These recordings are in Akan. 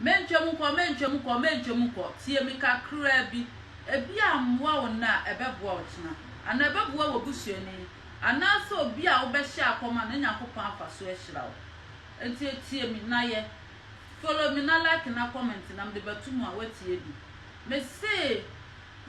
Mentwa mu nkɔ, mentwa mu nkɔ, mentwa mu nkɔ, tie me kakraa bi. Ebi ammoa wo nnɛ a, ɛbɛboa wo kyena. Anaa ɛbɛboa w'abusuani. Anaasɛ obi a wobɛhyɛ akɔm a, na Nyankopɔn afa so ahyira wo. Enti tie me na yɛ. Follow me na like na comment na mede bɛto mu a, woatie bi. Mese,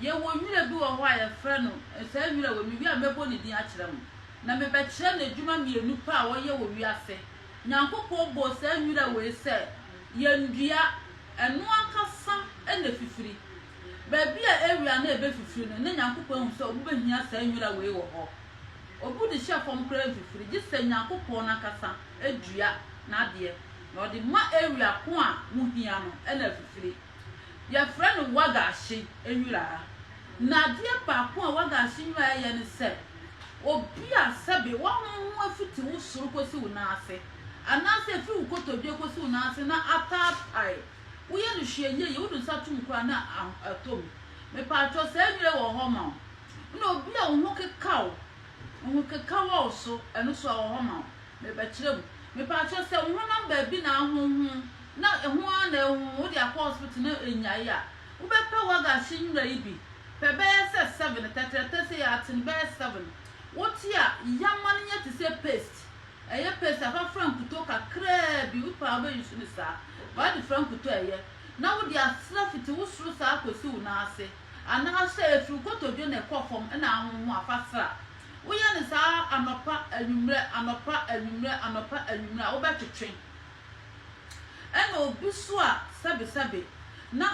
Yɛwɔ nwira bi wɔ hɔ a yɛfrɛ no, saa nwira wei, mewie a mɛbɔ ne din akyerɛ mo. Na mebɛkyerɛ n'adwuma mmienu pɛ a ɔyɛ wɔ wiase, Nyankopɔn bɔɔ saa nwura wei sɛ yɛndua, ɛno ankasa na ɛfifiri. Baabi a awia no rebɛfifiri no, na Nyankopɔn ahu sɛ wɔbɛhia saa nwura wei wɔ hɔ. Obi de hyɛ fam koraa mfifiri, gye sɛ Nyankopɔn no ankasa dua n'adeɛ, na ɔde ma awia ko a mohia no na afifiri. Wɔfrɛ no wagashi nwera. Na adeɛ baako a wagashi nwera yɛ ne sɛ, obi a sɛbe w'ahonhom afiti wo soro kɔsi wo nan ase, anaasɛ ɛfiri wo kotodwe kɔsi wo nan ase na ataapae, woyɛ no hwee nyɛ yie, wode wo nsa to mu koraa na atɔ mu. Mepaakyɛw, saa nwera yi wɔ hɔ ma wo. Ɛna obi a wo ho keka wo. Ohun keka wɔ wo so, ɛno nso ɛwɔ hɔ ma wo. Merebɛkyerɛ mu. Mepakyɛw, sɛ wo honam baabi na ahonhon na ɛho ara na ɛhonhon, wode akɔ hospital na enyae a, wobɛpɛ wagasi nwura yi bi? Pɛ bɛyɛ sɛ seven, tɛtrɛtɛ sɛ yɛ aten bɛyɛ seven. Wote a, yam ma no nyɛ te sɛ paste. Ɛyɛ paste a, fa fra nkutoo kakraa bi, wopɛ a wobɛ use no saa, but wode fra nkutoo a ɛyɛ, na wode asra fiti wo soro saa kosi wo nan ase. Anaasɛ ɛfiri kotodwe na ɛkɔ fam na ahonho afa sra. Woyɛ no saa anɔpa, anwummerɛ, anɔpa, anwummerɛ, anɔpa, anwummerɛ a, wobɛtwetwe. Ɛna obi nso a sɛbesɛbe na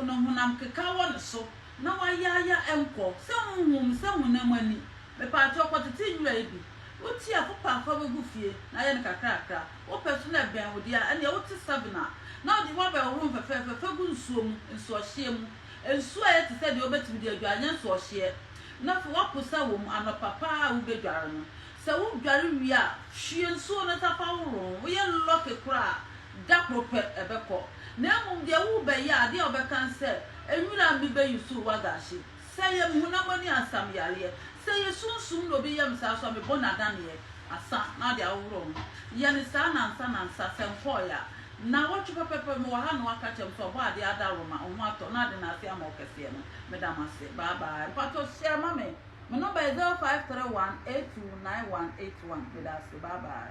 ne honam keka wɔ ne so na wayaaya nkɔ, sɛ honhom, sɛ honam ani. Mepaakyɛw, kɔtete nwura yi bi. Wotie a, fa pa fa bɛgu fie na yɛ no kakrakra. Wopɛ nso na ɛbɛn wo deɛ a, ɛnneɛ wote seven a, na wode w'abɛhohoro no fɛfɛɛfɛ fa gu nsuo mu, nsuɔhyeɛ mu. Nsu a ɛyɛ te sɛ deɛ wobɛtumi de adware nyɛ nso ɔhyeɛ, na fa w'aposa wɔ mu anɔpa pa ara a wobɛdware no. Sɛ wodware wie a, hwie nsuo no ta fa horo ho. Woyɛ lɔke koraa a, da koro pɛ ɛbɛkɔ. Na mmom deɛ worebɛyɛ a, adeɛ a wobɛka ne sɛ, Nwura a mebɛyi so wagaahye. Sɛ ɛyɛ me honam ani ansa me yareɛ. Sɛ ɛyɛ sunsum na obi yɛ me saa nso a, me bɔne adaneɛ asa na wode ahohoro wo ho. Yɛ no saa nansa nansa sɛ nkɔɔeɛ a. Nnawɔtwe pɛpɛɛpɛ mewɔ ha na waka kyerɛ me sɛ ɔbɔ adeɛ adaworo ma wo ho atɔ na ade no ase ama wo kɛseɛ no, meda mo ase. Bye bye. Mpakyɛw share ma me. Me number yɛ zero five three one eight two nine one eight one. Meda ase. Bye bye.